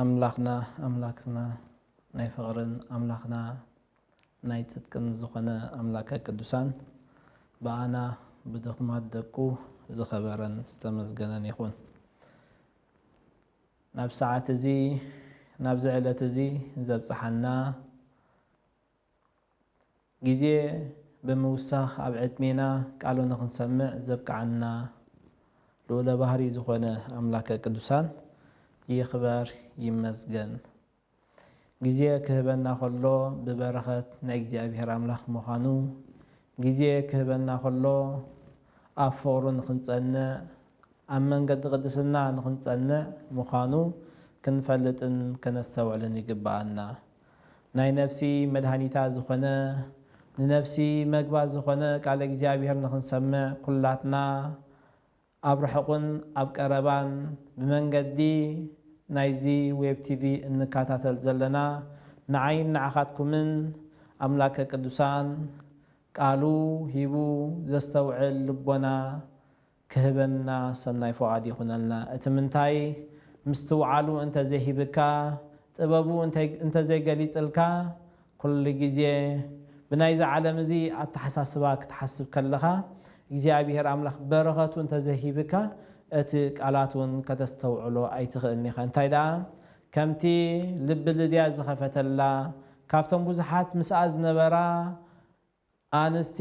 ኣምላኽና ኣምላክና ናይ ፍቕርን ኣምላኽና ናይ ጽድቅን ዝኾነ ኣምላከ ቅዱሳን ብኣና ብድኹማት ደቁ ዝኸበረን ዝተመስገነን ይኹን። ናብ ሰዓት እዚ ናብዚ ዕለት እዚ ዘብጽሓና፣ ግዜ ብምውሳኽ ኣብ ዕድሜና ቃሉ ንኽንሰምዕ ዘብቅዓና ልኡለ ባህሪ ዝኾነ ኣምላከ ቅዱሳን ይኽበር ይመስገን ግዜ ክህበና ከሎ ብበረኸት ናይ እግዚኣብሔር ኣምላኽ ምዃኑ ግዜ ክህበና ከሎ ኣብ ፍቕሩ ንኽንጸንዕ ኣብ መንገዲ ቅድስና ንኽንጸንዕ ምዃኑ ክንፈልጥን ከነስተውዕልን ይግብኣና ናይ ነፍሲ መድሃኒታ ዝኾነ ንነፍሲ መግባ ዝኾነ ቃለ እግዚኣብሔር ንኽንሰምዕ ኩላትና ኣብ ርሑቕን ኣብ ቀረባን ብመንገዲ ናይዚ ዌብ ቲቪ እንካታተል ዘለና ንዓይን ንዓኻትኩምን ኣምላከ ቅዱሳን ቃሉ ሂቡ ዘስተውዕል ልቦና ክህበና ሰናይ ፍቓድ ይኹነልና። እቲ ምንታይ ምስትውዓሉ እንተ ዘይሂብካ፣ ጥበቡ እንተ ዘይገሊጽልካ፣ ኩሉ ግዜ ብናይ'ዚ ዓለም እዚ ኣተሓሳስባ ክትሓስብ ከለኻ፣ እግዚኣብሄር ኣምላኽ በረኸቱ እንተ ዘይሂብካ፣ እቲ ቃላት እውን ከተስተውዕሎ ኣይትኽእልን ኢኻ። እንታይ ደኣ ከምቲ ልቢ ልድያ ዝኸፈተላ፣ ካብቶም ብዙሓት ምስኣ ዝነበራ ኣንስቲ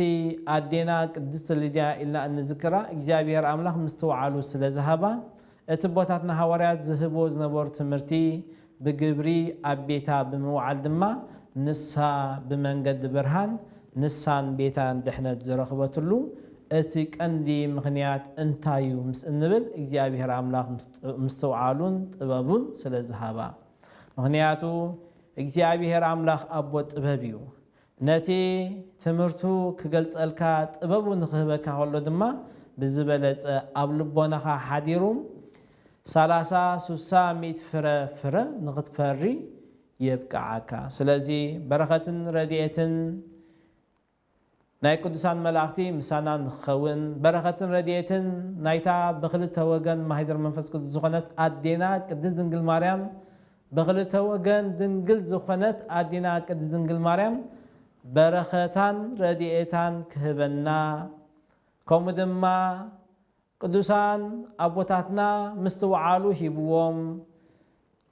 ኣዴና ቅድስት ሊድያ ኢልና እንዝክራ እግዚኣብሔር ኣምላክ ምስትውዓሉ ስለ ዝሃባ እቲ ኣቦታትና ሃዋርያት ዝህብዎ ዝነበሩ ትምህርቲ ብግብሪ ኣብ ቤታ ብምውዓል ድማ ንሳ ብመንገዲ ብርሃን ንሳን ቤታን ድሕነት ዝረኽበትሉ እቲ ቀንዲ ምኽንያት እንታይ እዩ ምስ እንብል እግዚኣብሔር ኣምላክ ምስትውዓሉን ጥበቡን ስለ ዝሃባ ምኽንያቱ እግዚኣብሔር ኣምላክ ኣቦ ጥበብ እዩ ነቲ ትምህርቱ ክገልጸልካ ጥበቡ ንክህበካ ከሎ ድማ ብዝበለጸ ኣብ ልቦናኻ ሓዲሩ ሰላሳ ሱሳ ሚእቲ ፍረ ፍረ ንክትፈሪ የብቅዓካ ስለዚ በረኸትን ረዲኤትን ናይ ቅዱሳን መላእኽቲ ምሳና ንክኸውን በረኸትን ረዲኤትን ናይታ ብክልተ ወገን ማህደር መንፈስ ቅዱስ ዝኾነት ኣዴና ቅድስት ድንግል ማርያም ብክልተ ወገን ድንግል ዝኾነት ኣዴና ቅድስት ድንግል ማርያም በረኸታን ረድኤታን ክህበና ከምኡ ድማ ቅዱሳን ኣቦታትና ምስትውዓሉ ሂብዎም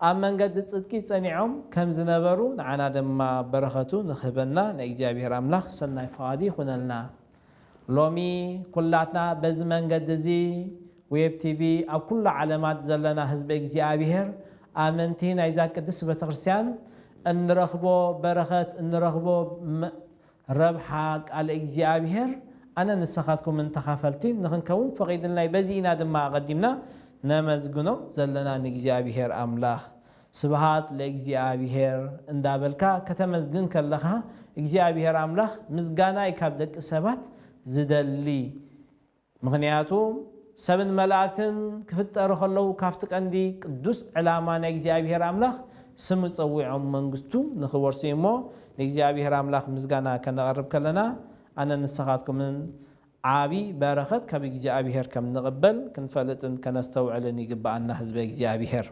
ኣብ መንገዲ ጽድቂ ጸኒዖም ከም ዝነበሩ ንዓና ድማ በረኸቱ ንክህበና ንእግዚኣብሔር ኣምላኽ ሰናይ ፍቓዱ ይኹነልና። ሎሚ ኩላትና በዚ መንገዲ እዚ ዌብ ቲቪ ኣብ ኩሉ ዓለማት ዘለና ህዝበ እግዚኣብሔር ኣመንቲ ናይዛ ቅድስት ቤተክርስቲያን እንረኽቦ በረኸት እንረኽቦ ረብሓ ቃለ እግዚኣብሔር ኣነን ንሰኻትኩምን ተኻፈልቲ ንኽንከውን ፈቒድልና እዩ በዚ ኢና ድማ ኣቐዲምና ነመስግኖ ዘለና ንእግዚኣብሔር ኣምላኽ ስብሃት ለእግዚኣብሄር እንዳበልካ ከተመስግን ከለኻ እግዚኣብሄር ኣምላኽ ምስጋናይ ካብ ደቂ ሰባት ዝደሊ ምኽንያቱ ሰብን መላእክትን ክፍጠሩ ከለዉ ካብቲ ቀንዲ ቅዱስ ዕላማ ናይ እግዚኣብሄር ኣምላኽ ስሙ ጸዊዖም መንግስቱ ንኽወርሱ እዩ እሞ ንእግዚኣብሄር ኣምላኽ ምስጋና ከነቕርብ ከለና ኣነን ንስኻትኩምን ዓቢ በረኸት ካብ እግዚኣብሄር ከም ንቕበል ክንፈልጥን ከነስተውዕልን ይግብኣና ህዝበ እግዚኣብሄር።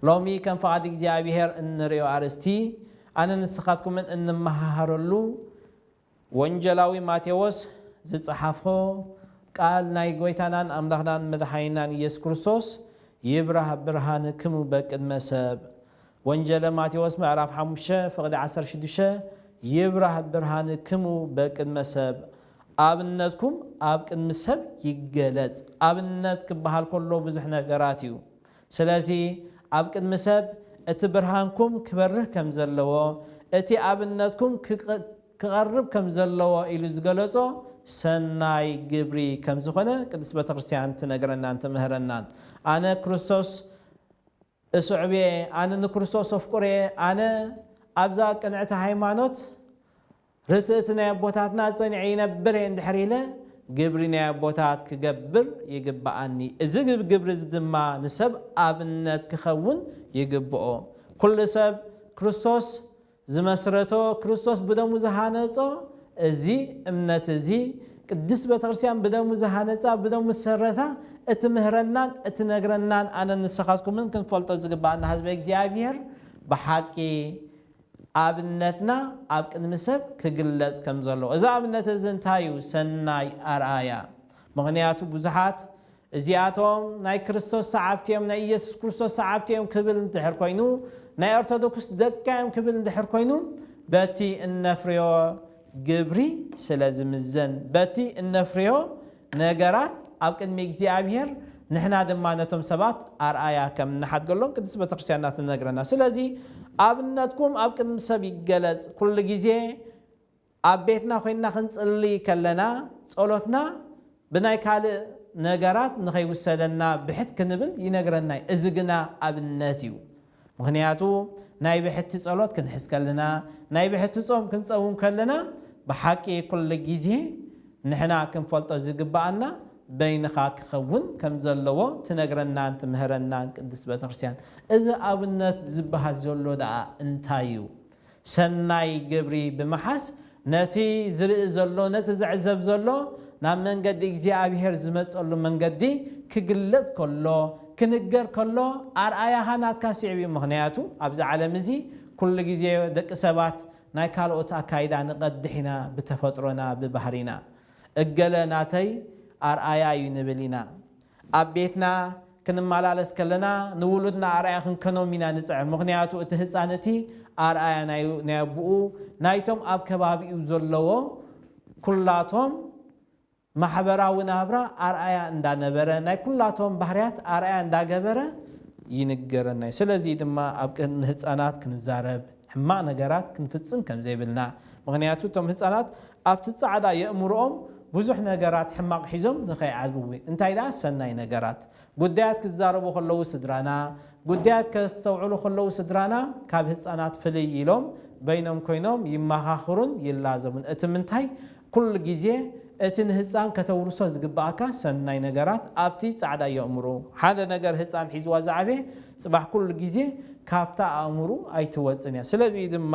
ሎሚ ከም ፍቓድ እግዚኣብሄር እንርእዮ ኣርእስቲ፣ ኣነን ንስኻትኩምን እንመሃሃረሉ፣ ወንጀላዊ ማቴዎስ ዝጸሓፎ ቃል ናይ ጎይታናን ኣምላኽናን መድሓኒናን ኢየሱስ ክርስቶስ ይብራህ ብርሃንክሙ በቅድመ ሰብ ወንጀለ ማቴዎስ ምዕራፍ ሓሙሽተ ፍቕዲ ዓሰርተ ሽዱሽተ ይብራህ ብርሃንክሙ በቅድመ ሰብ ኣብነትኩም ኣብ ቅድሚ ሰብ ይገለጽ። ኣብነት ክበሃል ከሎ ብዙሕ ነገራት እዩ። ስለዚ ኣብ ቅድሚ ሰብ እቲ ብርሃንኩም ክበርህ ከም ዘለዎ፣ እቲ ኣብነትኩም ክቐርብ ከም ዘለዎ ኢሉ ዝገለጾ ሰናይ ግብሪ ከም ዝኾነ ቅድስት ቤተክርስትያን ትነግረናን ትምህረናን። ኣነ ክርስቶስ እስዕብ እየ፣ ኣነ ንክርስቶስ እፍቅሮ እየ፣ ኣነ ኣብዛ ቅንዕቲ ሃይማኖት ርትእቲ ናይ ኣቦታትና ጸኒዐ ይነብር እየ እንድሕር ኢለ፣ ግብሪ ናይ ኣቦታት ክገብር ይግብኣኒ፣ እዚ ግብሪ እዚ ድማ ንሰብ ኣብነት ክኸውን ይግብኦ። ኩሉ ሰብ ክርስቶስ ዝመስረቶ ክርስቶስ ብደሙ ዝሃነጾ እዚ እምነት እዚ ቅድስት ቤተክርስትያን ብደሙ ዝሃነጻ ብደሙ ዝሰረታ እትምህረናን እትነግረናን ኣነን ንስኻትኩምን ክንፈልጦ ዝግብኣና ህዝበ እግዚኣብሔር ብሓቂ ኣብነትና ኣብ ቅድሚ ሰብ ክግለጽ ከምዘለዎ እዚ ኣብነት እዚ እንታይ እዩ ሰናይ ኣርኣያ ምኽንያቱ ብዙሓት እዚኣቶም ናይ ክርስቶስ ሰዓብቲ እዮም፣ ናይ ኢየሱስ ክርስቶስ ሰዓብቲ እዮም ክብል እንድሕር ኮይኑ፣ ናይ ኦርቶዶክስ ደቃ እዮም ክብል እንድሕር ኮይኑ፣ በቲ እነፍርዮ ግብሪ ስለ ዝምዘን፣ በቲ እነፍርዮ ነገራት ኣብ ቅድሚ እግዚኣብሔር ንሕና ድማ ነቶም ሰባት ኣርኣያ ከም እንሓድገሎም ቅድስት ቤተክርስቲያንና ትነግረና። ስለዚ ኣብነትኩም ኣብ ቅድሚ ሰብ ይገለጽ ኩሉ ጊዜ ኣብ ቤትና ዄንና ኽንጽሊ ኸለና፣ ጸሎትና ብናይ ካልእ ነገራት ንኸይውሰደና ብሕት ክንብል ይነግረና እዩ። እዚ ግና ኣብነት እዩ። ምኽንያቱ ናይ ብሕቲ ጸሎት ክንሕዝ ከለና፣ ናይ ብሕቲ ጾም ክንጸውም ከለና፣ ብሓቂ ኵሉ ጊዜ ንሕና ክንፈልጦ ዚግብኣና በይንኻ ኪኸውን ከም ዘለዎ ትነግረናን ትምህረናን ቅድስት ቤተ ክርስትያን። እዚ ኣብነት ዚብሃል ዘሎ ደኣ እንታይ እዩ? ሰናይ ግብሪ ብምሓዝ ነቲ ዝርኢ ዘሎ ነቲ ዝዕዘብ ዘሎ ናብ መንገዲ እግዚኣብሄር ዝመጸሉ መንገዲ ክግለጽ ከሎ ክንገር ከሎ ኣርኣያኻ ናትካ ስዒቡ እዩ ምኽንያቱ ኣብዚ ዓለም እዚ ኩሉ ግዜ ደቂ ሰባት ናይ ካልኦት ኣካይዳ ንቀድሕ ኢና ብተፈጥሮና ብባህሪና እገለ ናተይ ኣርኣያ እዩ ንብል ኢና ኣብ ቤትና ክንመላለስ ከለና ንውሉድና ኣርኣያ ክንከኖም ኢና ንጽዕር፣ ምኽንያቱ እቲ ህጻን እቲ ኣርኣያ ናይ ናይ ኣቡኡ ናይቶም ኣብ ከባቢኡ ዘለዎ ኩላቶም ማሕበራዊ ናብራ ኣርኣያ እንዳ ነበረ ናይ ኩላቶም ባህርያት ኣርኣያ እንዳ ገበረ ይንገረና እዩ። ስለዚ ድማ ኣብ ቅድሚ ህጻናት ክንዛረብ፣ ሕማቕ ነገራት ክንፍጽም ከም ዘይብልና፣ ምኽንያቱ እቶም ህጻናት ኣብቲ ጻዕዳ የእምሮኦም ብዙሕ ነገራት ሕማቕ ሒዞም ንኸይዓብዊ፣ እንታይ ደኣ ሰናይ ነገራት። ጉዳያት ክዛረቡ ከለዉ ስድራና፣ ጉዳያት ከስተውዕሉ ከለዉ ስድራና ካብ ህጻናት ፍልይ ኢሎም በይኖም ኮይኖም ይመኻኽሩን ይላዘቡን። እቲ ምንታይ ኩሉ ግዜ እቲ ንህጻን ከተውርሶ ዝግብኣካ ሰናይ ነገራት ኣብቲ ጻዕዳ የእምሮኡ ሓደ ነገር ህጻን ሒዝዋ ዝዓበየ ጽባሕ ኩሉ ግዜ ካብታ ኣእምሩ ኣይትወጽን እያ። ስለዚ እዩ ድማ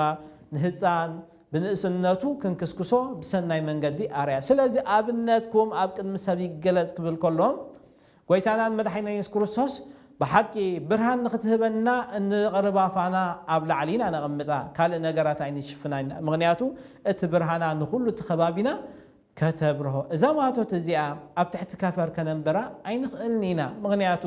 ንህጻን ብንእስነቱ ክንክስክሶ ብሰናይ መንገዲ ኣርኣያ። ስለዚ ኣብነትኩም ኣብ ቅድሚ ሰብ ይገለጽ ክብል ከሎ ጎይታናን መድሓኒናን የሱስ ክርስቶስ ብሓቂ ብርሃን ንኽትህበና እንቐርባ ፋና ኣብ ላዕሊ ኢና ነቐምጣ ካልእ ነገራት ኣይንሽፍናን ኢና ምኽንያቱ እቲ ብርሃና ንኹሉ እቲ ከባቢና ከተብርሆ እዛ ማቶት እዚኣ ኣብ ትሕቲ ከፈር ከነንብራ ኣይንኽእልን ኢና ምኽንያቱ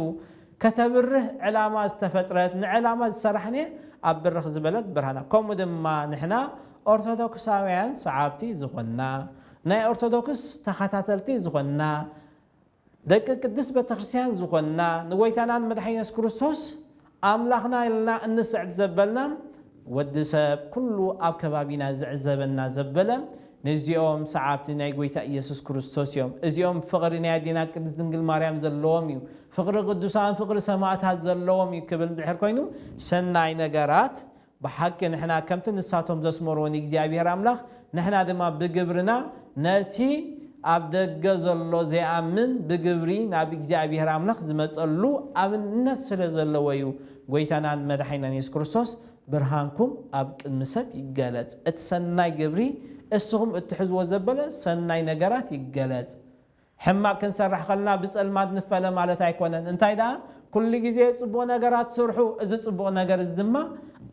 ከተብርህ ዕላማ ዝተፈጥረት ንዕላማ ዝሰራሕንየ ኣብ ብርኽ ዝበለት ብርሃና ከምኡ ድማ ንሕና ኦርቶዶክሳውያን ሰዓብቲ ዝኾንና ናይ ኦርቶዶክስ ተኸታተልቲ ዝኾንና ደቂ ቅድስት ቤተክርስትያን ዝኾንና ንጎይታናን መድሓኒና የሱስ ክርስቶስ ኣምላኽና ኢልና እንስዕብ ዘበልና ወዲ ሰብ ኩሉ ኣብ ከባቢና ዝዕዘበና ዘበለ ንዚኦም ሰዓብቲ ናይ ጎይታ ኢየሱስ ክርስቶስ እዮም እዚኦም ፍቕሪ ናይ ኣዴና ቅድስት ድንግል ማርያም ዘለዎም እዩ ፍቕሪ ቅዱሳን ፍቕሪ ሰማእታት ዘለዎም እዩ ክብል እንድሕር ኮይኑ ሰናይ ነገራት ብሓቂ ንሕና ከምቲ ንሳቶም ዘስመርዎ ንእግዚኣብሄር ኣምላኽ ንሕና ድማ ብግብርና ነቲ ኣብ ደገ ዘሎ ዘይኣምን ብግብሪ ናብ እግዚኣብሄር ኣምላኽ ዝመጸሉ ኣብነት ስለ ዘለዎ እዩ ጎይታናን መዳሒናን የሱስ ክርስቶስ ብርሃንኩም ኣብ ቅድሚ ሰብ ይገለጽ እቲ ሰናይ ግብሪ እስኹም እትሕዝዎ ዘበለ ሰናይ ነገራት ይገለጽ ሕማቕ ክንሰርሕ ከለና ብጸልማት ንፈለ ማለት ኣይኮነን፣ እንታይ ደኣ ኩሉ ግዜ ጽቡቕ ነገራት ስርሑ፣ እዚ ጽቡቕ ነገር እዚ ድማ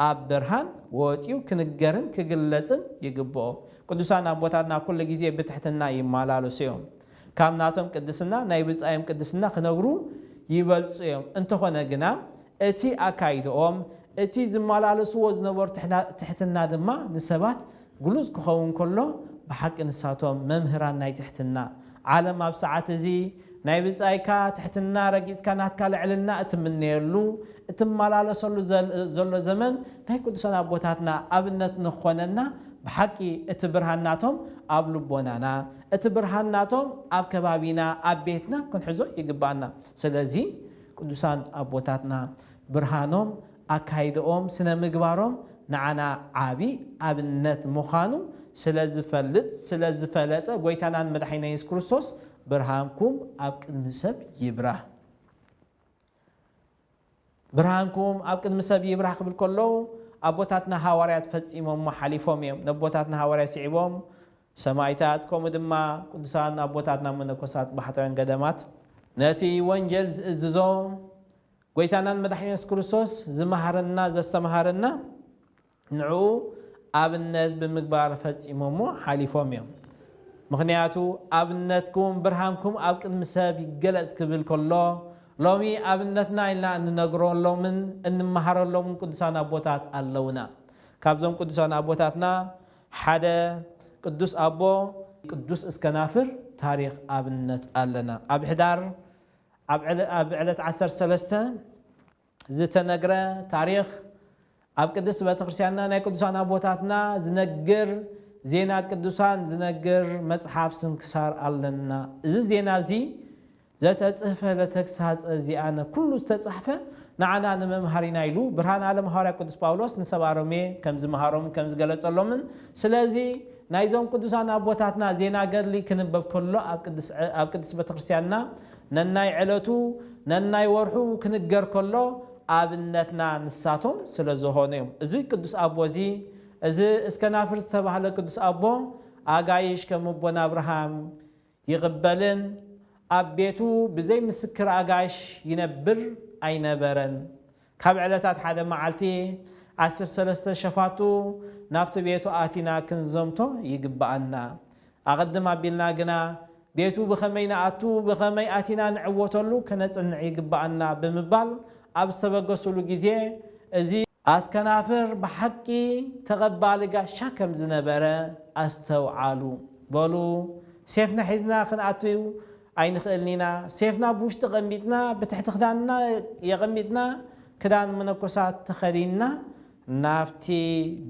ኣብ ብርሃን ወጺኡ ክንገርን ክግለጽን ይግብኦ። ቅዱሳን ኣቦታትና ኩሉ ግዜ ብትሕትና ይማላለሱ እዮም። ካብ ናቶም ቅድስና ናይ ብጻዮም ቅድስና ክነብሩ ይበልጹ እዮም። እንተኾነ ግና እቲ ኣካይድኦም እቲ ዝማላለስዎ ዝነበሩ ትሕትና ድማ ንሰባት ግሉጽ ክኸውን ከሎ ብሓቂ ንሳቶም መምህራን ናይ ትሕትና ዓለም ኣብ ሰዓት እዚ ናይ ብጻይካ ትሕትና ረጊጽካ ናትካ ልዕልና እትምነየሉ እትማላለሰሉ ዘሎ ዘመን ናይ ቅዱሳን ኣቦታትና ኣብነት ንክኾነና ብሓቂ እቲ ብርሃን ናቶም ኣብ ልቦናና እቲ ብርሃን ናቶም ኣብ ከባቢና ኣብ ቤትና ክንሕዞ ይግብኣና ስለዚ ቅዱሳን ኣቦታትና ብርሃኖም ኣካይደኦም ስነምግባሮም ንዓና ዓቢ ኣብነት ምዃኑ ስለዝፈልጥ ስለዝፈለጠ ጎይታናን መድሓኒና የሱስ ክርስቶስ ብርሃንኩም ኣብ ቅድሚ ሰብ ይብራህ ብርሃንኩም ኣብ ቅድሚ ሰብ ይብራህ ክብል ከሎ ኣቦታትና ሃዋርያት ፈጺሞሞ ሓሊፎም እዮም ነቦታትና ሃዋርያት ስዒቦም ሰማይታት ከምኡ ድማ ቅዱሳን ኣቦታትና መነኮሳት ባሕታውያን ገደማት ነቲ ወንጀል ዝእዝዞ ጎይታናን መድሓኒና የሱስ ክርስቶስ ዝመሃረና ዘስተምሃረና ንዕኡ ኣብነት ብምግባር ፈጺሞሞ ሓሊፎም እዮም። ምኽንያቱ ኣብነትኩም ብርሃንኩም ኣብ ቅድሚ ሰብ ይገለጽ ክብል ከሎ ሎሚ ኣብነትና ኢልና እንነግረሎምን እንመሃረሎምን ቅዱሳን ኣቦታት ኣለውና። ካብዞም ቅዱሳን ኣቦታትና ሓደ ቅዱስ ኣቦ። ቅዱስ እስከናፍር ታሪኽ ኣብነት ኣለና። ኣብ ሕዳር ኣብ ዕለት ዓሰርተ ሰለስተ ዝተነግረ ታሪኽ ኣብ ቅድስት ቤተክርስቲያንና ናይ ቅዱሳን ኣቦታትና ዝነግር ዜና ቅዱሳን ዝነግር መጽሓፍ ስንክሳር ኣለና። እዚ ዜና እዚ ዘተጽህፈ ለተግሳጸ ዚኣነ ኩሉ ዝተጻሕፈ ንዓና ንመምሃሪና ኢሉ ብርሃን ዓለም ሃዋርያ ቅዱስ ጳውሎስ ንሰብኣ ሮሜ ከምዝመሃሮምን ከምዝገለጸሎምን ስለዚ ናይዞም ቅዱሳን ኣቦታትና ዜና ገድሊ ክንበብ ከሎ ኣብ ቅድስት ቤተክርስትያንና ነናይ ዕለቱ ነናይ ወርሑ ክንገር ከሎ ኣብነትና ንሳቶም ስለዝኾኑ እዮም። እዚ ቅዱስ ኣቦ እዚ እዚ እስከናፍር ዝተባህለ ቅዱስ ኣቦ ኣጋይሽ ከም ኣቦና ኣብርሃም፣ ይቕበልን ኣብ ቤቱ ብዘይ ምስክር ኣጋይሽ ይነብር ኣይነበረን። ካብ ዕለታት ሓደ መዓልቲ ዓሰርተ ሰለስተ ሸፋቱ ናብቲ ቤቱ ኣቲና ክንዘምቶ ይግብኣና። ኣቐድም ኣቢልና ግና ቤቱ ብኸመይ ንኣቱ ብኸመይ ኣቲና ንዕወተሉ ከነጽንዕ ይግብኣና ብምባል ኣብ ዝተበገሱሉ ግዜ እዚ ኣስከናፍር ብሓቂ ተቐባሊ ጋሻ ከም ዝነበረ ኣስተውዓሉ። በሉ ሴፍና ሒዝና ክንኣቱ ኣይንኽእልን ኢና። ሴፍና ኣብ ውሽጢ ኣቐሚጥና፣ ብትሕቲ ክዳንና የቐሚጥና፣ ክዳን መነኮሳት ተኸዲንና ናብቲ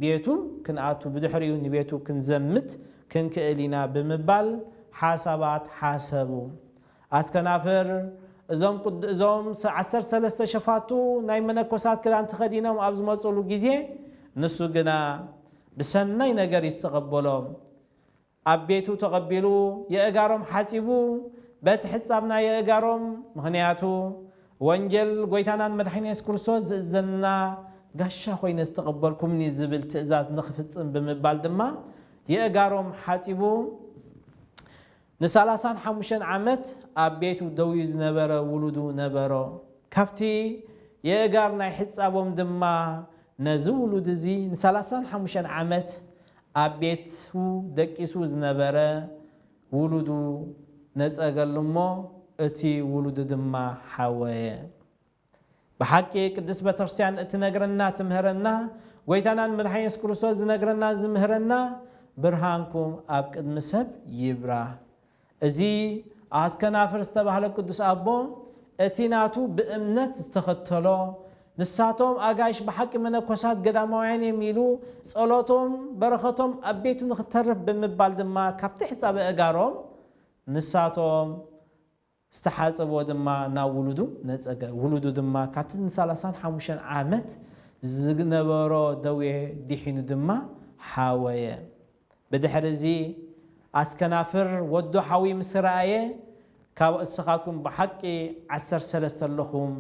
ቤቱ ክንኣቱ፣ ብድሕሪኡ ንቤቱ ክንዘምት ክንክእል ኢና ብምባል ሓሳባት ሓሰቡ። ኣስከናፍር እዞም ቁድ እዞም ዓሰርተ ሰለስተ ሸፋቱ ናይ መነኮሳት ክዳን ተኸዲኖም ኣብ ዝመጹሉ ግዜ ንሱ ግና ብሰናይ ነገር እዩ ዝተቐበሎም። ኣብ ቤቱ ተቐቢሉ የእጋሮም ሓጺቡ በቲ ሕጻብ ናይ የእጋሮም ምኽንያቱ ወንጌል ጎይታናን መድሓኒና የሱስ ክርስቶስ ዝእዘንና ጋሻ ኮይነ ዝተቐበልኩምኒ ዝብል ትእዛዝ ንኽፍጽም ብምባል ድማ የእጋሮም ሓጺቡ ንሳላሳን ሓሙሽተን ዓመት ኣብ ቤቱ ደውዩ ዝነበረ ውሉዱ ነበሮ። ካብቲ የእጋር ናይ ሕጻቦም ድማ ነዚ ውሉድ እዚ ንሳላሳን ሓሙሽተን ዓመት ኣብ ቤቱ ደቂሱ ዝነበረ ውሉዱ ነጸገሉ እሞ እቲ ውሉዱ ድማ ሓወየ። ብሓቂ ቅድስት ቤተክርስቲያን እትነግረና ትምህረና ጎይታናን መድሓኒና የሱስ ክርስቶስ ዝነግረናን ዝምህረና ብርሃንኩም ኣብ ቅድሚ ሰብ ይብራህ እዚ ኣስከናፍር ዝተባህለ ቅዱስ ኣቦ እቲ ናቱ ብእምነት ዝተኸተሎ ንሳቶም ኣጋይሽ ብሓቂ መነኮሳት ገዳማውያን እዮም ኢሉ ጸሎቶም በረኸቶም ኣብ ቤቱ ንክተርፍ ብምባል ድማ ካብቲ ሕጻበ እጋሮም ንሳቶም ዝተሓጸቦ ድማ ናብ ውሉዱ ነጸገ፣ ውሉዱ ድማ ካብቲ ንሳላሳን ሓሙሽተን ዓመት ዝነበሮ ደዌ ዲሒኑ ድማ ሓወየ። ብድሕሪዚ ኣስከናፍር ወዱ ሓውዩ ምስ ረኣየ ካብ እስኻትኩም ብሓቂ ዓሰርተ ሰለስተ ኣለኹም፣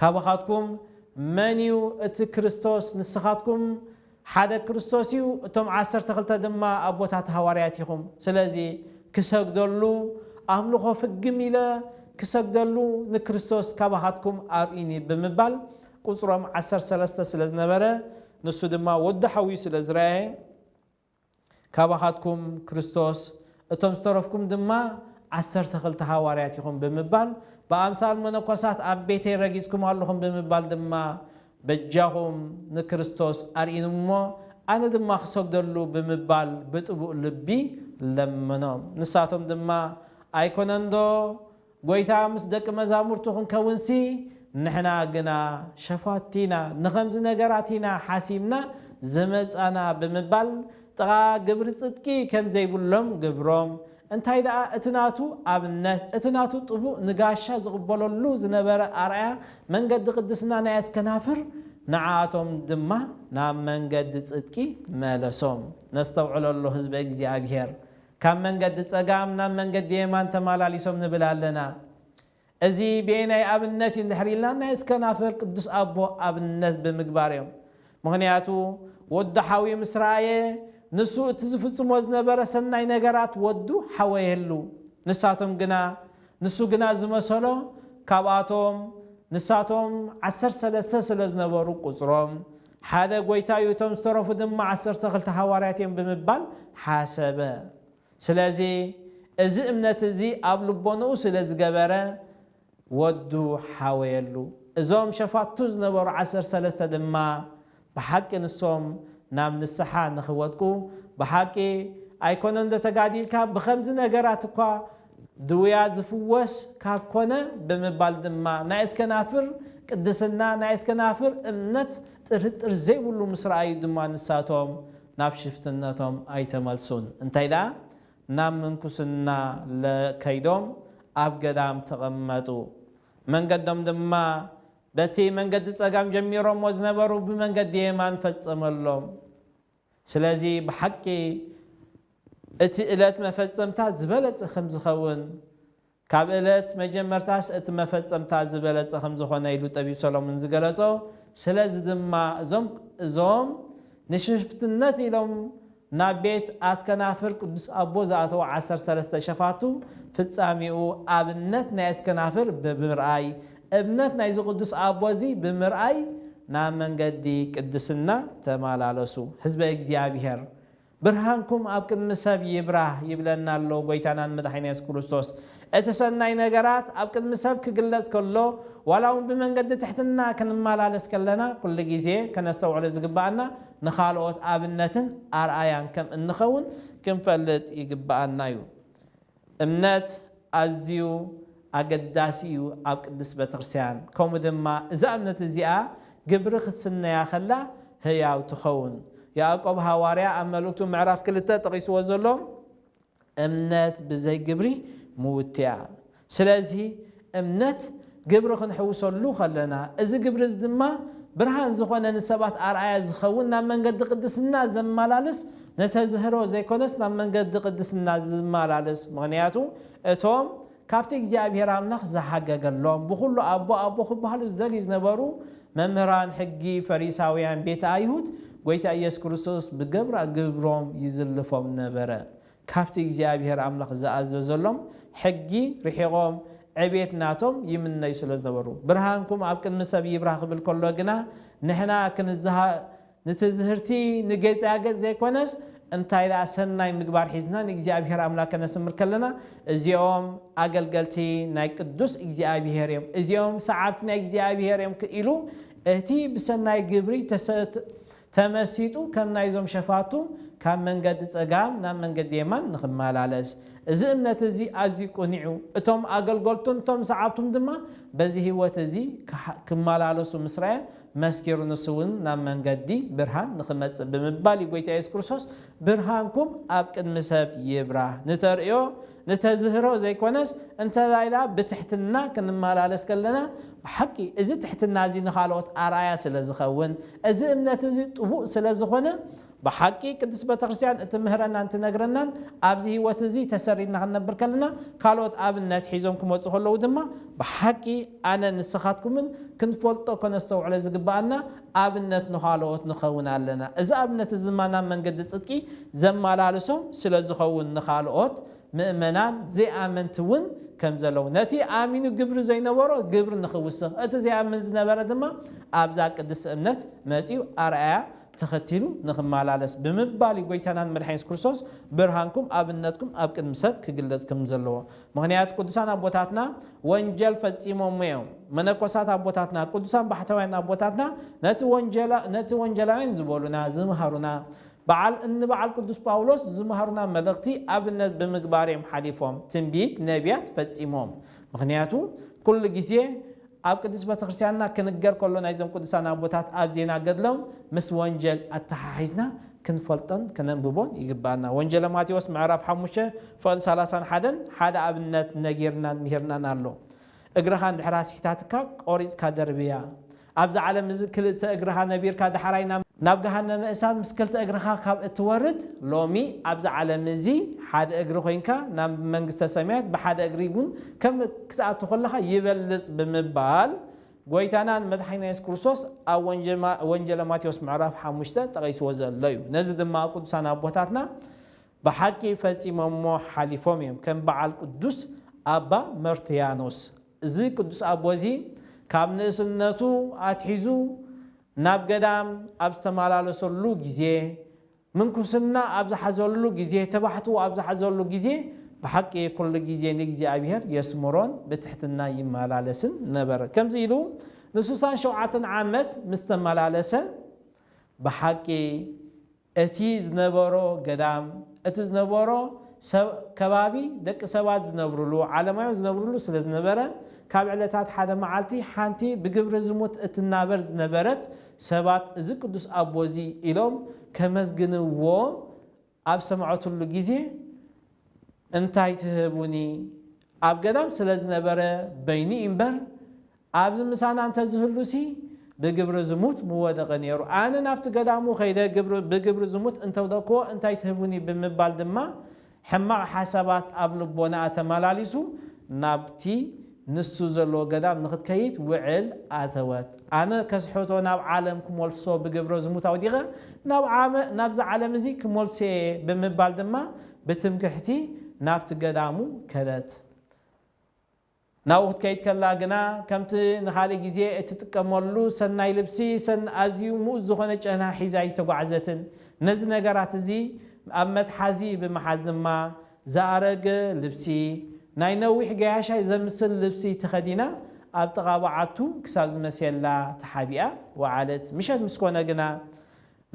ካባኻትኩም መን እዩ እቲ ክርስቶስ ንስኻትኩም ሓደ ክርስቶስ እዩ እቶም ዓሰርተ ክልተ ድማ ኣቦታት ሃዋርያት ኢኹም ስለዚ ክሰግደሉ ኣምልኾ ፍግም ኢለ ክሰግደሉ ንክርስቶስ ካባኻትኩም ኣርእዩኒ ብምባል ቁጽሮም ዓሰርተ ሰለስተ ስለ ዝነበረ ንሱ ድማ ወዱ ሓውዩ ስለ ዝረኣየ ካባኻትኩም ክርስቶስ፣ እቶም ዝተረፍኩም ድማ ዓሰርተ ክልተ ሃዋርያት ኢኹም ብምባል ብኣምሳል መነኮሳት ኣብ ቤተይ ረጊጽኩም ኣለኹም ብምባል ድማ በጃኹም ንክርስቶስ ኣርእይንሞ ኣነ ድማ ክሰግደሉ ብምባል ብጥቡእ ልቢ ለመኖም። ንሳቶም ድማ ኣይኮነንዶ ጐይታ ምስ ደቂ መዛሙርቱ ክንከውንሲ ንሕና ግና ሸፋቱ ኢና፣ ንኸምዚ ነገራት ኢና ሓሲብና ዝመጻና ብምባል ጥቓ ግብሪ ጽድቂ ከም ዘይብሎም ገብሮም። እንታይ ደኣ እቲ ናቱ ኣብነት፣ እቲ ናቱ ጥቡእ ንጋሻ ዝቕበለሉ ዝነበረ ኣርኣያ መንገዲ ቅድስና ናይ ኣስከናፍር ንዓኣቶም ድማ ናብ መንገዲ ጽድቂ መለሶም። ነስተውዕለሉ ህዝበ እግዚኣብሔር! ካብ መንገዲ ጸጋም ናብ መንገዲ የማን ተማላሊሶም ንብል ኣለና። እዚ በየናይ ኣብነት እዩ እንድሕር ኢልና ናይ እስከናፍር ቅዱስ ኣቦ ኣብነት ብምግባር እዮም። ምኽንያቱ ወዱ ሓውዩ ምስ ረኣየ ንሱ እቲ ዝፍጽሞ ዝነበረ ሰናይ ነገራት ወዱ ሓወየሉ። ንሳቶም ግና ንሱ ግና ዝመሰሎ ካብኣቶም ንሳቶም ዓሰርተ ሰለስተ ስለ ዝነበሩ ቁጽሮም ሓደ ጐይታ እዩ፣ እቶም ዝተረፉ ድማ ዓሰርተ ክልተ ሃዋርያት እዮም ብምባል ሓሰበ። ስለዚ እዚ እምነት እዚ ኣብ ልቦንኡ ስለ ዝገበረ ወዱ ሓወየሉ። እዞም ሸፋቱ ዝነበሩ ዓሰርተ ሰለስተ ድማ ብሓቂ ንሶም ናብ ንስሓ ንኽወድቁ ብሓቂ ኣይኮነንዶ ተጋዲልካ ብኸምዚ ነገራት እኳ ድውያት ዝፍወስ ካብ ኮነ ብምባል ድማ ናይ እስከናፍር ቅድስና ናይ እስከናፍር እምነት ጥርጥር ዘይብሉ ምስ ረኣዩ ድማ ንሳቶም ናብ ሽፍትነቶም ኣይተመልሱን እንታይ ደኣ ናብ ምንኩስና ከይዶም ኣብ ገዳም ተቐመጡ መንገዶም ድማ በቲ መንገዲ ጸጋም ጀሚሮሞ ዝነበሩ ብመንገዲ የማን ፈጸመሎም። ስለዚ ብሓቂ እቲ እለት መፈጸምታ ዝበለጸ ከምዝኸውን ካብ እለት መጀመርታስ እቲ መፈጸምታ ዝበለጸ ከምዝኾነ ኢሉ ጠቢብ ሰሎሙን ዝገለጾ ስለዚ ድማ እዞም እዞም ንሽፍትነት ኢሎም ናብ ቤት ኣስከናፍር ቅዱስ ኣቦ ዝኣተዉ ዓሰርተ ሰለስተ ሸፋቱ ፍጻሜኡ ኣብነት ናይ ኣስከናፍር ብምርኣይ እምነት ናይዚ ቅዱስ ኣቦ እዚ ብምርኣይ ናብ መንገዲ ቅድስና ተማላለሱ። ህዝበ እግዚኣብሔር ብርሃንኩም ኣብ ቅድሚ ሰብ ይብራህ ይብለና ኣሎ ጎይታናን መድሓኒና የሱስ ክርስቶስ። እቲ ሰናይ ነገራት ኣብ ቅድሚ ሰብ ክግለጽ ከሎ ዋላ ውን ብመንገዲ ትሕትና ክንማላለስ ከለና ኩሉ ግዜ ከነስተውዕሎ ዝግብኣና ንኻልኦት ኣብነትን ኣርኣያን ከም እንኸውን ክንፈልጥ ይግብኣና ዩ። እምነት ኣዝዩ ኣገዳሲ እዩ ኣብ ቅድስት ቤተክርስትያን ከምኡ ድማ እዛ እምነት እዚኣ ግብሪ ክትስነያ ከላ ህያው ትኸውን ያእቆብ ሃዋርያ ኣብ መልእክቱ ምዕራፍ ክልተ ጠቂስዎ ዘሎ እምነት ብዘይ ግብሪ ምውቲያ ስለዚ እምነት ግብሪ ክንሕውሰሉ ከለና፣ እዚ ግብሪ እዚ ድማ ብርሃን ዝኾነ ንሰባት ኣርኣያ ዝኸውን ናብ መንገዲ ቅድስና ዘማላልስ ንተዝህሮ ዘይኮነስ ናብ መንገዲ ቅድስና ዝማላልስ ምኽንያቱ እቶም ካብቲ እግዚኣብሔር ኣምላኽ ዝሓገገሎም ብኹሉ ኣቦ ኣቦ ክበሃሉ ዝደልዩ ዝነበሩ መምህራን ሕጊ ፈሪሳውያን ቤተ ኣይሁድ ጎይታ ኢየሱስ ክርስቶስ ብገብራ ግብሮም ይዝልፎም ነበረ ካብቲ እግዚኣብሄር ኣምላኽ ዝኣዘዘሎም ሕጊ ርሒቖም ዕቤት ናቶም ይምነዩ ስለ ዝነበሩ። ብርሃንኩም ኣብ ቅድሚ ሰብ ይብራህ ክብል ከሎ ግና ንሕና ክንዝሃ ንትዝህርቲ ንጌጻገጽ ዘይኮነስ እንታይ ደኣ ሰናይ ምግባር ሒዝና ንእግዚኣብሄር ኣምላክ ከነስምር ከለና እዚኦም ኣገልገልቲ ናይ ቅዱስ እግዚኣብሄር እዮም እዚኦም ሰዓብቲ ናይ እግዚኣብሄር እዮም ኢሉ እቲ ብሰናይ ግብሪ ተመሲጡ ከም ናይዞም ሸፋቱ ካብ መንገዲ ጸጋም ናብ መንገዲ የማን ንኽመላለስ። እዚ እምነት እዚ ኣዝዩ ቅኑዕ'ዩ፣ እቶም ኣገልገልቱን እቶም ሰዓብቱን ድማ በዚ ህይወት እዚ ክመላለሱ ምስ ረኣየ መስኪሩ ንሱ'ውን ናብ መንገዲ ብርሃን ንኽመጽእ ብምባል እዩ ጎይታ የሱስ ክርስቶስ ብርሃንኩም ኣብ ቅድሚ ሰብ ይብራህ ንተርእዮ ንተዝህሮ ዘይኮነስ እንተላይላ ብትሕትና ክንመላለስ ከለና ብሓቂ እዚ ትሕትና እዚ ንኻልኦት ኣርኣያ ስለ ዝኸውን እዚ እምነት እዚ ጥቡቅ ስለ ዝኾነ ብሓቂ ቅድስት ቤተክርስትያን እትምህረናን ትነግረናን ኣብዚ ህይወት እዚ ተሰሪትና ክንነብር ከለና ካልኦት ኣብነት ሒዞም ክመጹ ከለዉ ድማ ብሓቂ ኣነን ንስኻትኩምን ክንፈልጦ ከነስተውዕሎ ዝግበኣና ኣብነት ንኻልኦት ንኸውን ኣለና። እዚ ኣብነት እዚ ድማ ናብ መንገዲ ጽድቂ ዘመላልሶም ስለ ዝኸውን ንኻልኦት ምእመናን ዘይኣመንቲ እውን ከም ዘለዉ ነቲ ኣሚኑ ግብሪ ዘይነበሮ ግብሪ ንኽውስኽ እቲ ዘይኣምን ዝነበረ ድማ ኣብዛ ቅድስቲ እምነት መጺኡ ኣርኣያ ተኸቲሉ ንኽመላለስ ብምባል እዩ ጐይታናን መድሓኒን የሱስ ክርስቶስ ብርሃንኩም ኣብነትኩም ኣብ ቅድሚ ሰብ ክግለጽ ከም ዘለዎ ምኽንያቱ ቅዱሳን ኣቦታትና ወንጀል ፈጺሞም እዮም። መነኮሳት ኣቦታትና፣ ቅዱሳን ባሕታውያን ኣቦታትና ነቲ ወንጀላ ነቲ ወንጀላውያን ዝበሉና፣ ዝምሃሩና፣ በዓል እንበዓል ቅዱስ ጳውሎስ ዝምሃሩና መልእኽቲ ኣብነት ብምግባር እዮም ሓሊፎም። ትንቢት ነብያት ፈጺሞም። ምኽንያቱ ኩሉ ግዜ ኣብ ቅድስት ቤተክርስቲያንና ክንገር ከሎ ናይዞም ቅዱሳን ኣቦታት ኣብ ዜና ገድሎም ምስ ወንጀል ኣተሓሒዝና ክንፈልጦን ከነንብቦን ይግበኣና። ወንጀለ ማቴዎስ ምዕራፍ ሓሙሽተ ፍቕዲ ሰላሳን ሓደን ሓደ ኣብነት ነጊርናን ምሂርናን ኣሎ። እግርኻ እንድሕር ኣስሒታትካ ቆሪጽካ ደርብያ። ኣብዚ ዓለም እዚ ክልተ እግርኻ ነቢርካ ዳሕራይ ናብ ገሃነመ እሳት ምስ ክልተ እግርኻ ካብ እትወርድ ሎሚ ኣብዚ ዓለም እዚ ሓደ እግሪ ኮይንካ ናብ መንግስተ ሰማያት ብሓደ እግሪ እውን ከም ክትኣቱ ከለኻ ይበልጽ ብምባል ጎይታናን መድሓኒና የሱስ ክርስቶስ ኣብ ወንጀል ወንጀለ ማቴዎስ ምዕራፍ ሓሙሽተ ጠቂስዎ ዘሎ እዩ። ነዚ ድማ ቅዱሳን ኣቦታትና ብሓቂ ፈጺሞሞ ሓሊፎም እዮም ከም በዓል ቅዱስ ኣባ መርትያኖስ እዚ ቅዱስ ኣቦ እዚ ካብ ንእስነቱ ኣትሒዙ ናብ ገዳም ኣብ ዝተመላለሰሉ ግዜ ምንኩስና ኣብ ዝሓዘሉ ግዜ ተባሕትዎ ኣብ ዝሓዘሉ ግዜ ብሓቂ ኩሉ ግዜ ንእግዚኣብሔር የስምሮን ብትሕትና ይመላለስን ነበረ ከምዚ ኢሉ ንስሳን ሸውዓተን ዓመት ምስ ተመላለሰ ብሓቂ እቲ ዝነበሮ ገዳም እቲ ዝነበሮ ከባቢ ደቂ ሰባት ዝነብርሉ ዓለማውያን ዝነብርሉ ስለ ዝነበረ ካብ ዕለታት ሓደ መዓልቲ ሓንቲ ብግብሪ ዝሙት እትናበር ዝነበረት ሰባት እዚ ቅዱስ ኣቦ እዚ ኢሎም ከመስግንዎ ኣብ ሰምዐትሉ ግዜ እንታይ ትህቡኒ ኣብ ገዳም ስለ ዝነበረ በይኑ እዩ እምበር ኣብዚ ምሳና እንተ ዝህሉሲ ብግብሪ ዝሙት ምወደቐ ነይሩ። ኣነ ናብቲ ገዳሙ ከይደ ብግብሪ ዝሙት እንተውደቅክዎ እንታይ ትህቡኒ ብምባል ድማ ሕማቕ ሓሳባት ኣብ ልቦናኣ ተመላሊሱ ናብቲ ንሱ ዘለዎ ገዳም ንኽትከይድ ውዕል ኣተወት። ኣነ ከስሕቶ ናብ ዓለም ክመልሶ ብግብረ ዝሙት ኣውዲቐ ናብ ዓመ ናብዚ ዓለም እዚ ክመልሶ'የ ብምባል ድማ ብትምክሕቲ ናብቲ ገዳሙ ከደት። ናብኡ ክትከይድ ከላ ግና ከምቲ ንኻልእ ግዜ እትጥቀመሉ ሰናይ ልብሲ ሰን ኣዝዩ ምኡዝ ዝኾነ ጨና ሒዛ ኣይተጓዕዘትን። ነዚ ነገራት እዚ ኣብ መትሓዚ ብምሓዝ ድማ ዝኣረገ ልብሲ፣ ናይ ነዊሕ ገያሻይ ዘምስል ልብሲ ተኸዲና ኣብ ጥቓ በዓቱ ክሳብ ዝመስየላ ተሓቢኣ ወዓለት። ምሸት ምስ ኮነ ግና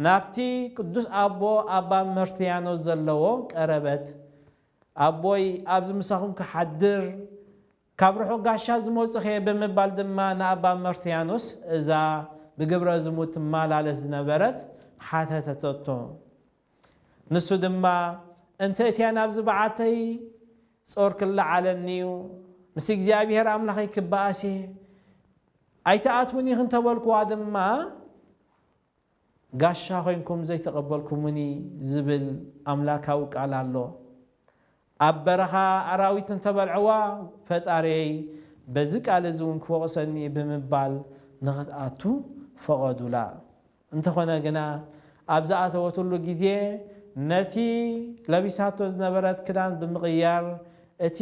ናብቲ ቅዱስ ኣቦ ኣባ መርትያኖስ ዘለዎ ቀረበት። ኣቦይ ኣብዚ ምሳኹም ክሓድር ካብ ርሑቕ ጋሻ ዝመጹኹ'የ ብምባል ድማ ንኣባ መርትያኖስ እዛ ብግብረዝሙት ትመላለስ ዝነበረት ሓተተቶ። ንሱ ድማ እንተ እትያ ናብዚ በዓተይ ጾር ክለዓለኒ'ዩ፣ ምስ እግዚኣብሄር ኣምላኸይ ክበኣስ'የ፣ ኣይትኣትዉን ኢኺ እንተበልኩዋ ድማ፣ ጋሻ ኮይንኩም ዘይተቐበልኩሙኒ ዝብል ኣምላካዊ ቃል ኣሎ። ኣብ በረኻ ኣራዊት እንተበልዐዋ ፈጣሪየይ በዚ ቃል እዚ እውን ክወቕሰኒ እዩ ብምባል ንኽትኣቱ ፈቐዱላ። እንተኾነ ግና ኣብ ዝኣተወትሉ ግዜ ነቲ ለቢሳቶ ዝነበረት ክዳን ብምቕያር እቲ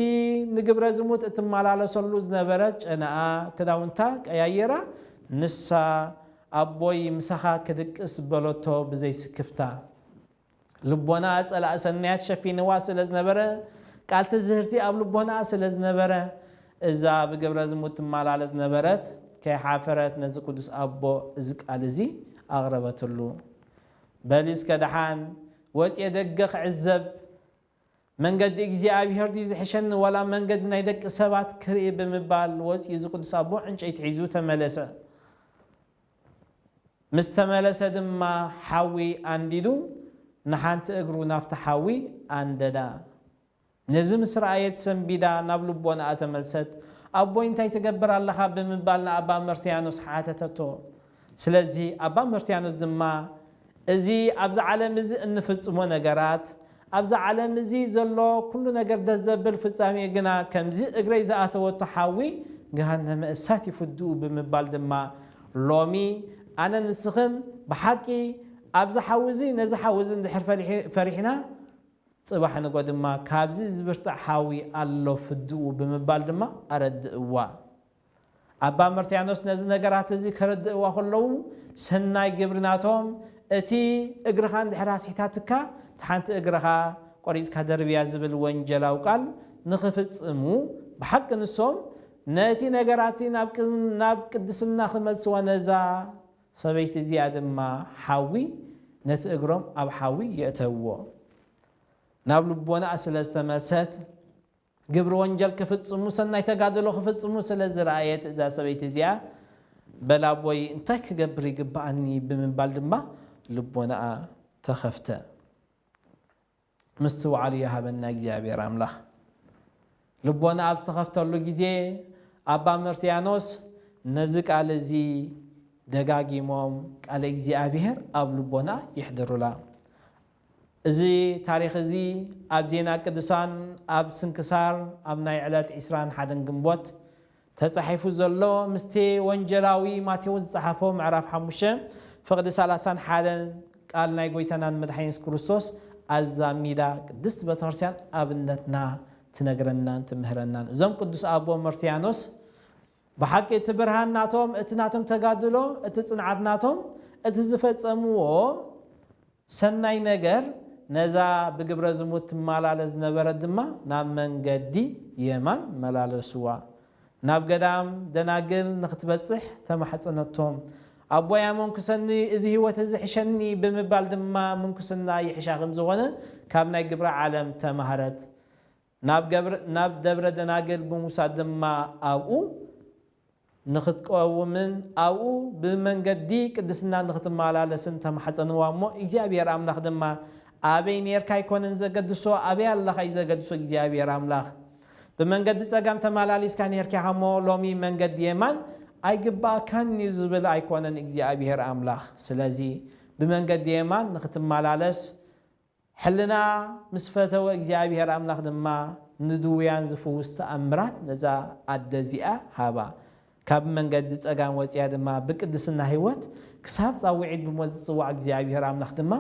ንግብረ ዝሙት እትመላለሰሉ ዝነበረት ጨናኣ ክዳውንታ ቀያይራ ንሳ ኣቦይ ምሳኻ ክድቅስ በሎቶ ብዘይ ስክፍታ። ልቦና ጸላኢ ሰናያት ሸፊንዋ ስለ ዝነበረ፣ ቃል ትዝህርቲ ኣብ ልቦናኣ ስለ ዝነበረ፣ እዛ ብግብረ ዝሙት ትማላለስ ዝነበረት ከይሓፈረት ነዚ ቅዱስ ኣቦ እዚ ቃል እዚ ኣቕረበትሉ። በሊ እስከ ደሓን ወጽየ ደገ ክዕዘብ መንገዲ እግዚኣብሄር ድዩ ዝሕሸኒ ዋላ መንገዲ ናይ ደቂ ሰባት ክርኢ ብምባል ወጺኡ እዚ ቅዱስ ኣቦ ዕንጨይቲ ሒዙ ተመለሰ። ምስ ተመለሰ ድማ ሓዊ ኣንዲዱ ንሓንቲ እግሩ ናብቲ ሓዊ ኣንደዳ። ነዚ ምስ ረኣየት ሰንቢዳ ናብ ልቦናኣ ተመልሰት። ኣቦይ እንታይ ትገብር ኣለኻ ብምባል ንኣባ መርትያኖስ ሓተተቶ። ስለዚ ኣባ መርትያኖስ ድማ እዚ ኣብዚ ዓለም እዚ እንፍጽሞ ነገራት፣ ኣብዚ ዓለም እዚ ዘሎ ኩሉ ነገር ደስ ዘብል ፍጻሜኡ ግና ከምዚ እግረይ ዝኣተወቶ ሓዊ ገሃነመ እሳት ይፍድኡ ብምባል ድማ ሎሚ ኣነን ንስኽን ብሓቂ ኣብዚ ሓዊ እዚ ነዚ ሓዊ እዚ እንድሕር ፈሪሕና ጽባሕ ንግሆ ድማ ካብዚ ዝብርትዕ ሓዊ ኣሎ ፍድኡ ብምባል ድማ ኣረድእዋ። ኣባ መርትያኖስ ነዚ ነገራት እዚ ከረድእዋ ከለዉ ሰናይ ግብሪ ናቶም እቲ እግርኻ እንድሕር ኣስሒታትካ እታ ሓንቲ እግርኻ ቆሪጽካ ደርብያ ዝብል ወንጀላዊ ቃል ንኽፍጽሙ ብሓቂ ንሶም ነቲ ነገራት እቲ ናብ ቅድስና ክመልስዋ ነዛ ሰበይቲ እዚኣ ድማ ሓዊ ነቲ እግሮም ኣብ ሓዊ የእተውዎ ናብ ልቦናኣ ስለ ዝተመልሰት ግብሪ ወንጀል ክፍጽሙ ሰናይ ተጋድሎ ክፍጽሙ ስለ ዝረኣየት እዛ ሰበይቲ እዚኣ በል ኣቦይ እንታይ ክገብር ይግበኣኒ ብምባል ድማ ልቦናኣ ተኸፍተ። ምስትውዓል ይሃበና እግዚኣብሔር ኣምላኽ። ልቦናኣ ኣብ ዝተኸፍተሉ ግዜ ኣባ መርትያኖስ ነዚ ቃል እዚ ደጋጊሞም ቃለ እግዚኣብሔር ኣብ ልቦናኣ የሕድሩላ። እዚ ታሪኽ እዚ ኣብ ዜና ቅዱሳን ኣብ ስንክሳር ኣብ ናይ ዕለት ዕስራን ሓደን ግንቦት ተጻሒፉ ዘሎ ምስቲ ወንጀላዊ ማቴዎስ ዝጸሓፎ ምዕራፍ ሓሙሽተ ፍቕዲ ሰላሳን ሓደን ቃል ናይ ጎይታናን መድሓኒና የሱስ ክርስቶስ ኣዛሚዳ ቅድስት ቤተክርስቲያን ኣብነትና ትነግረናን ትምህረናን እዞም ቅዱስ ኣቦ መርትያኖስ ብሓቂ እቲ ብርሃን ናቶም እቲ ናቶም ተጋድሎ እቲ ጽንዓት ናቶም እቲ ዝፈጸምዎ ሰናይ ነገር ነዛ ብግብረ ዝሙት ትማላለስ ዝነበረት ድማ ናብ መንገዲ የማን መላለስዋ ናብ ገዳም ደናግል ንክትበጽሕ ተማሕጸነቶ ኣቦያ መንኩሰኒ እዚ ሕይወት እዚ ሕሸኒ ብምባል ድማ ምንኩስና ይሕሻ ከምዝኾነ ካብ ናይ ግብረ ዓለም ተማህረት ናብ ደብረ ደናግል ብምውሳድ ድማ ኣብኡ ንኽትቀውምን ኣብኡ ብመንገዲ ቅድስና ንኽትመላለስን ተማሕጸንዋ እሞ እግዚኣብሄር ኣምላኽ ድማ ኣበይ ኔርካ ኣይኮነን ዘገድሶ ኣበይ ኣለኻ እዩ ዘገድሶ እግዚኣብሄር ኣምላኽ ብመንገዲ ጸጋም ተመላሊስካ ኔርካ ኢኻ እሞ ሎሚ መንገዲ የማን ኣይግብኣካን እዩ ዝብል ኣይኮነን እግዚኣብሄር ኣምላኽ ስለዚ ብመንገዲ የማን ንኽትመላለስ ሕልና ምስ ፈተወ እግዚኣብሄር ኣምላኽ ድማ ንድውያን ዝፍውስ ተኣምራት ነዛ ኣደ እዚኣ ሃባ። ካብ መንገዲ ጸጋም ወጺኣ ድማ ብቅድስና ሕይወት ክሳብ ጻውዒት ብሞት ዝጽዋዕ እግዚኣብሄር ኣምላኽ ድማ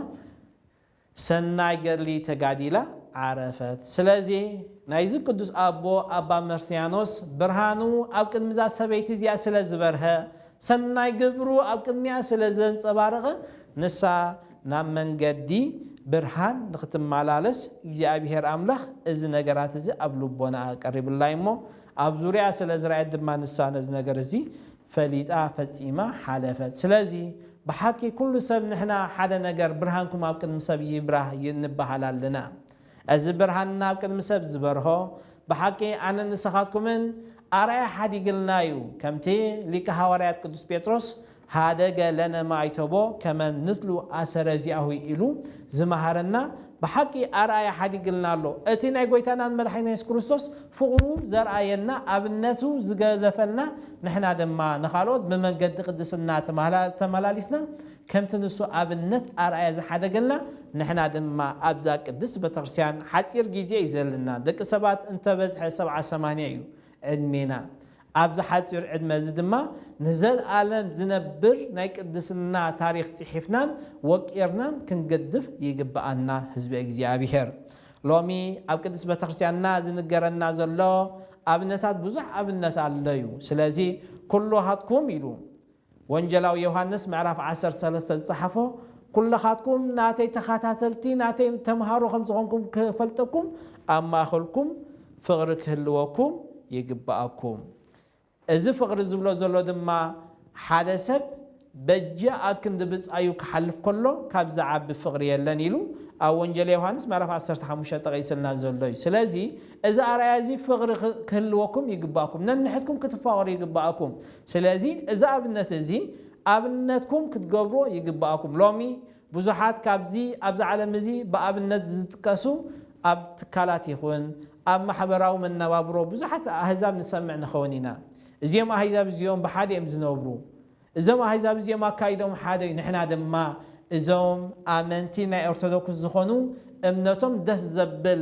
ሰናይ ገድሊ ተጋዲላ ዓረፈት። ስለዚ ናይዚ ቅዱስ ኣቦ ኣባ መርስያኖስ ብርሃኑ ኣብ ቅድሚ እዛ ሰበይቲ እዚኣ ስለ ዝበርሀ ሰናይ ግብሩ ኣብ ቅድሚኣ ስለ ዘንጸባረቐ፣ ንሳ ናብ መንገዲ ብርሃን ንኽትመላለስ እግዚኣብሄር ኣምላኽ እዚ ነገራት እዚ ኣብ ልቦናኣ ቀሪቡላ እዩ እሞ፣ ኣብ ዙርያኣ ስለ ዝረኣየት ድማ ንሳ ነዚ ነገር እዚ ፈሊጣ ፈጺማ ሓለፈት። ስለዚ ብሓቂ ኩሉ ሰብ ንሕና ሓደ ነገር ብርሃንኩም ኣብ ቅድሚ ሰብ ይብራህ ንበሃል ኣለና። እዚ ብርሃን ናብ ቅድሚ ሰብ ዝበርሆ ብሓቂ ኣነን ንሰኻትኩምን ኣርኣያ ሓዲግልና እዩ፣ ከምቲ ሊቀ ሓዋርያት ቅዱስ ጴጥሮስ ኀደገ ለነ ማይቶቦ ከመ ንትሉ ኣሰረ ዚኣሁ ኢሉ ዝመሃረና ብሓቂ ኣርኣያ ሓዲግልና ኣሎ፣ እቲ ናይ ጐይታናን መድሓኒና የሱስ ክርስቶስ ፍቕሩ ዘርኣየና ኣብነቱ ዝገደፈልና ንሕና ድማ ንኻልኦት ብመንገዲ ቅድስና ተመላሊስና ከምቲ ንሱ ኣብነት ኣርኣያ ዝሓደገልና ንሕና ድማ ኣብዛ ቅድስት በተክርስቲያን ሓጺር ግዜ እዩ ዘልና ደቂ ሰባት እንተ በዝሐ ሰብዓ ሰማንያ እዩ ዕድሜና ኣብዚ ሓጺር ዕድመ እዚ ድማ ንዘልኣለም ዝነብር ናይ ቅድስና ታሪኽ ጺሒፍናን ወቂርናን ክንገድፍ ይግብኣና ህዝበ እግዚኣብሔር ሎሚ ኣብ ቅድስት በተክርስቲያንና ዝንገረና ዘሎ ኣብነታት ብዙሕ ኣብነት ኣሎ እዩ ስለዚ ኩሉ ሃትኩም ኢሉ ወንጀላዊ ዮሃንስ ምዕራፍ ዓሰርተ ሰለስተ ዝጸሓፎ ኩለኻትኩም ናተይ ተኻታተልቲ ናተይ ተምሃሮ ከም ዝኾንኩም ክፈልጠኩም ኣብ ማእኸልኩም ፍቕሪ ክህልወኩም ይግብኣኩም እዚ ፍቕሪ ዝብሎ ዘሎ ድማ ሓደ ሰብ በጀ ኣብ ክንዲ ብጻዩ ክሓልፍ ከሎ ካብ ዝዓቢ ፍቕሪ የለን ኢሉ ኣብ ወንጀለ ዮሃንስ ምዕራፍ ዓሰርተ ሓሙሽተ ጠቒስልና ዘሎ እዩ ስለዚ እዚ ኣርኣያ እዚ ፍቕሪ ክህልወኩም ይግብኣኩም ነንሕድኩም ክትፋቐሩ ይግብኣኩም ስለዚ እዚ ኣብነት እዚ ኣብነትኩም ክትገብርዎ ይግበኣኩም። ሎሚ ብዙሓት ካብዚ ኣብዚ ዓለም እዚ ብኣብነት ዝጥቀሱ ኣብ ትካላት ይኹን ኣብ ማሕበራዊ መነባብሮ ብዙሓት ኣህዛብ ንሰምዕ ንኸውን ኢና። እዚኦም ኣህዛብ እዚኦም ብሓደ እዮም ዝነብሩ። እዞም ኣህዛብ እዚኦም ኣካይደኦም ሓደ እዩ። ንሕና ድማ እዞም ኣመንቲ ናይ ኦርቶዶክስ ዝኾኑ እምነቶም ደስ ዘብል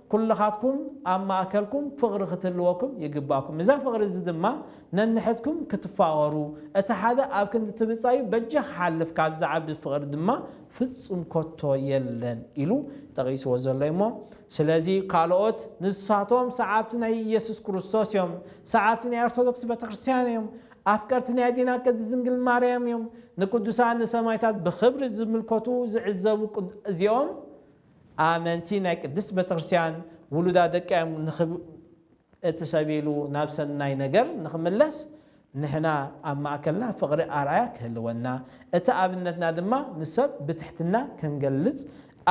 ኩልኻትኩም ኣብ ማእከልኩም ፍቕሪ ክትህልወኩም ይግባኩም። እዛ ፍቕሪ እዚ ድማ ነንሕድኩም ክትፋቐሩ፣ እቲ ሓደ ኣብ ክንዲ እቲ ብጻዩ በጃ ክሓልፍ ካብ ዝዓቢ ፍቕሪ ድማ ፍጹም ኮቶ የለን ኢሉ ጠቒስዎ ዘሎ እዩ እሞ ስለዚ ካልኦት ንሳቶም ሰዓብቲ ናይ ኢየሱስ ክርስቶስ እዮም፣ ሰዓብቲ ናይ ኦርቶዶክስ ቤተክርስትያን እዮም፣ ኣፍቀርቲ ናይ ኣዴና ቅድስት ድንግል ማርያም እዮም፣ ንቅዱሳን ንሰማይታት ብኽብሪ ዝምልከቱ ዝዕዘቡ እዚኦም ኣመንቲ ናይ ቅድስት ቤተክርስቲያን ውሉዳ ደቃዮም ንክብ እቲ ሰብ ኢሉ ናብ ሰናይ ነገር ንክምለስ ንሕና ኣብ ማእከልና ፍቅሪ ኣርኣያ ክህልወና እቲ ኣብነትና ድማ ንሰብ ብትሕትና ክንገልጽ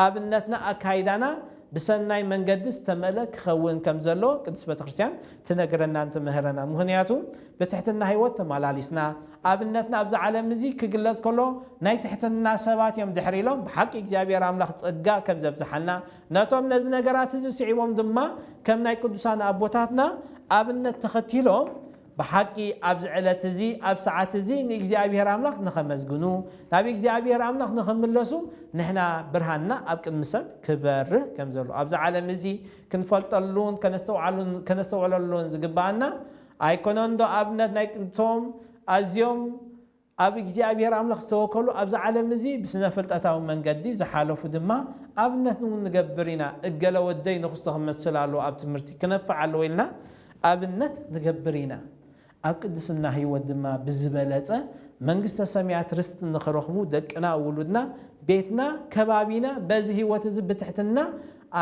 ኣብነትና ኣካይዳና ብሰናይ መንገዲ ዝተመልእ ክከውን ከምዘለዎ ቅድስት ቤተክርስቲያን ትነግረናን ትምህረናን ምክንያቱ ብትሕትና ህይወት ተማላሊስና ኣብነትና ኣብዚ ዓለም እዚ ክግለጽ ከሎ ናይ ትሕትና ሰባት እዮም ድሕር ኢሎም ብሓቂ እግዚኣብሔር ኣምላኽ ጸጋ ከም ዘብዝሓና ነቶም ነዚ ነገራት እዚ ስዒቦም ድማ ከም ናይ ቅዱሳን ኣቦታትና ኣብነት ተኸቲሎም ብሓቂ ኣብዚ ዕለት እዚ ኣብ ሰዓት እዚ ንእግዚኣብሔር ኣምላኽ ንኸመስግኑ ናብ እግዚኣብሔር ኣምላኽ ንኽምለሱ ንሕና ብርሃንና ኣብ ቅድሚ ሰብ ክበርህ ከም ዘሎ ኣብዚ ዓለም እዚ ክንፈልጠሉን ከነስተውዓሉን ከነስተውዕለሉን ዝግብኣና ኣይኮነንዶ ኣብነት ናይ ጥንቶም ኣዝዮም ኣብ እግዚኣብሄር ኣምላኽ ዝተወከሉ ኣብዚ ዓለም እዚ ብስነፍልጠታዊ መንገዲ ዝሓለፉ ድማ ኣብነት ን ንገብር ኢና እገለ ወደይ ንኽስቶ ክመስል ኣለዎ ኣብ ትምህርቲ ክነፍዕ ኣለዎ ኢልና ኣብነት ንገብር ኢና ኣብ ቅድስና ህይወት ድማ ብዝበለጸ መንግስተ ሰማያት ርስቲ ንኽረኽቡ ደቅና ውሉድና ቤትና ከባቢና በዚ ህይወት እዚ ብትሕትና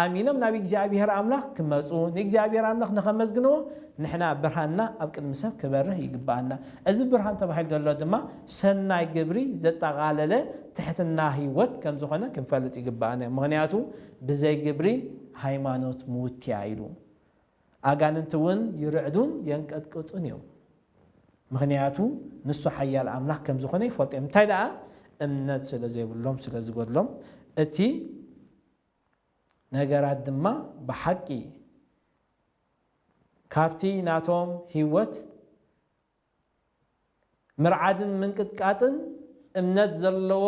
ኣሚኖም ናብ እግዚኣብሄር ኣምላኽ ክመጹ ንእግዚኣብሄር ኣምላኽ ንኸመስግንዎ ንሕና ብርሃንና ኣብ ቅድሚ ሰብ ክበርህ ይግብኣና። እዚ ብርሃን ተባሂሉ ዘሎ ድማ ሰናይ ግብሪ ዘጠቓለለ ትሕትና ህይወት ከም ዝኾነ ክንፈልጥ ይግብኣና እዩ። ምኽንያቱ ብዘይ ግብሪ ሃይማኖት ምውት'ያ ኢሉ። ኣጋንንቲ እውን ይርዕዱን የንቀጥቅጡን እዮም። ምኽንያቱ ንሱ ሓያል ኣምላኽ ከም ዝኾነ ይፈልጡ እዮም። እንታይ ደኣ እምነት ስለ ዘይብሎም ስለ ዝጎድሎም እቲ ነገራት ድማ ብሓቂ ካብቲ ናቶም ህይወት ምርዓድን ምንቅጥቃጥን እምነት ዘለዎ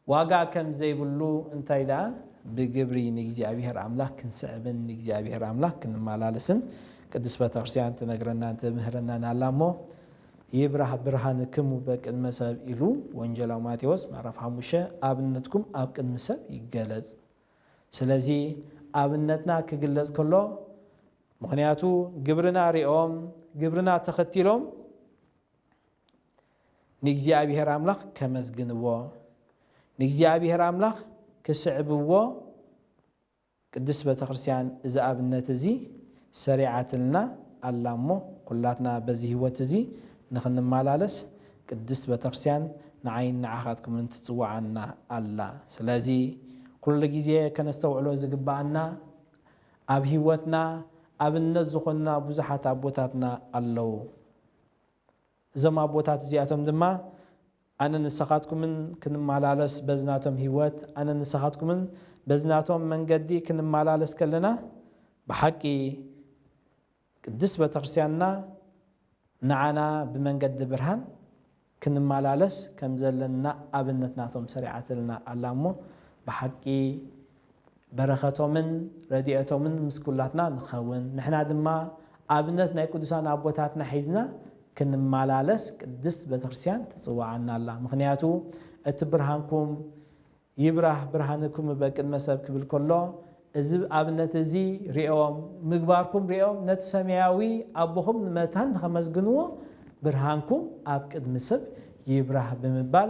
ዋጋ ከም ዘይብሉ እንታይ ደኣ ብግብሪ ንእግዚኣብሔር ኣምላኽ ክንስዕብን ንእግዚኣብሔር ኣምላኽ ክንመላለስን ቅድስት ቤተክርስቲያን ትነግረናን ትምህረናን ኣላ እሞ ይብራህ ብርሃንክሙ በቅድመ ሰብ ኢሉ ወንጀላዊ ማቴዎስ ምዕራፍ ሓሙሽተ ኣብነትኩም ኣብ ቅድሚ ሰብ ይገለጽ ስለዚ ኣብነትና ክግለጽ ከሎ ምክንያቱ ግብርና ሪኦም ግብርና ተከቲሎም ንእግዚኣብሄር ኣምላኽ ከመስግንዎ ንእግዚኣብሄር ኣምላኽ ክስዕብዎ ቅድስት ቤተክርስቲያን እዚ ኣብነት እዚ ሰሪዓትልና ኣላ እሞ ኩላትና በዚ ሕይወት እዚ ንኽንመላለስ ቅድስት ቤተክርስቲያን ንዓይን ንዓኻትኩምን ትጽውዓና ኣላ። ስለዚ ኩሉ ጊዜ ከነስተውዕሎ ዝግብኣና ኣብ ሕይወትና ኣብነት ዝኾኑና ብዙሓት ኣቦታትና ኣለዉ። እዞም ኣቦታት እዚኣቶም ድማ ኣነን ንሰኻትኩምን ክንመላለስ በዚ ናቶም ህይወት፣ ኣነን ንሰኻትኩምን በዚ ናቶም መንገዲ ክንመላለስ ከለና፣ ብሓቂ ቅድስት ቤተክርስቲያንና ንዓና ብመንገዲ ብርሃን ክንመላለስ ከምዘለና ኣብነት ናቶም ሰሪዓትልና ኣላ እሞ ብሓቂ በረኸቶምን ረዲኤቶምን ምስ ኩላትና ንክኸውን ንሕና ድማ ኣብነት ናይ ቅዱሳን ኣቦታትና ሒዝና ክንመላለስ ቅድስት ቤተክርስትያን ትጽውዓና ኣላ ምኽንያቱ እቲ ብርሃንኩም ይብራህ ብርሃንክሙ በቅድመ ሰብ ክብል ከሎ እዚ ኣብነት እዚ ሪኦም ምግባርኩም ሪኦም ነቲ ሰማያዊ ኣቦኹም ንመታን ንኸመስግንዎ ብርሃንኩም ኣብ ቅድሚ ሰብ ይብራህ ብምባል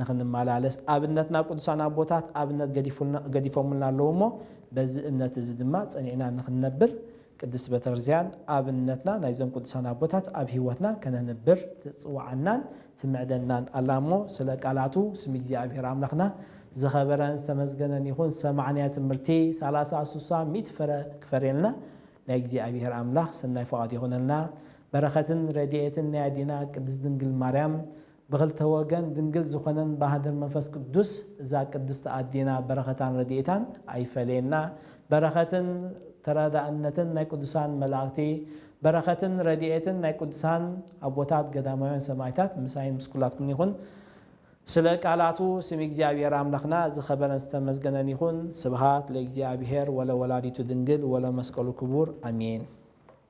ንኽንመላለስ ኣብነትና ቅዱሳን ኣቦታት ኣብነት ገዲፎምልና ኣለዉ እሞ በዚ እምነት እዚ ድማ ጸኒዕና ንኽንነብር ቅድስት በተርዚያን ኣብነትና ናይዞም ቅዱሳን ኣቦታት ኣብ ሕይወትና ከነንብር ትጽውዓናን ትምዕደናን ኣላ እሞ ስለ ቃላቱ ስም እግዚኣብሔር ኣምላኽና ዝኸበረን ዝተመስገነን ይኹን ዝሰማዕናዮ ትምህርቲ ሰላሳ ሱሳ ሚእቲ ፍረ ክፈርየልና ናይ እግዚኣብሔር ኣምላኽ ሰናይ ፍቓዱ ይኹነልና በረኸትን ረድኤትን ናይ ኣዴና ቅድስት ድንግል ማርያም ብክልተ ወገን ድንግል ዝኮነን ባሃድር መንፈስ ቅዱስ እዛ ቅድስት ኣዴና በረከታን ረዲኤታን ኣይፈለየና በረከትን ተራዳእነትን ናይ ቅዱሳን መላእክቲ በረከትን ረዲኤትን ናይ ቅዱሳን ኣቦታት ገዳማውያን ሰማእታት ምሳይን ምስ ኩላትኩምን ይኩን ስለ ቃላቱ ስም እግዚኣብሔር ኣምላክና ዝከበረን ዝተመስገነን ይኩን ስብሃት ለእግዚኣብሔር ወለወላዲቱ ድንግል ወለመስቀሉ ክቡር ኣሜን።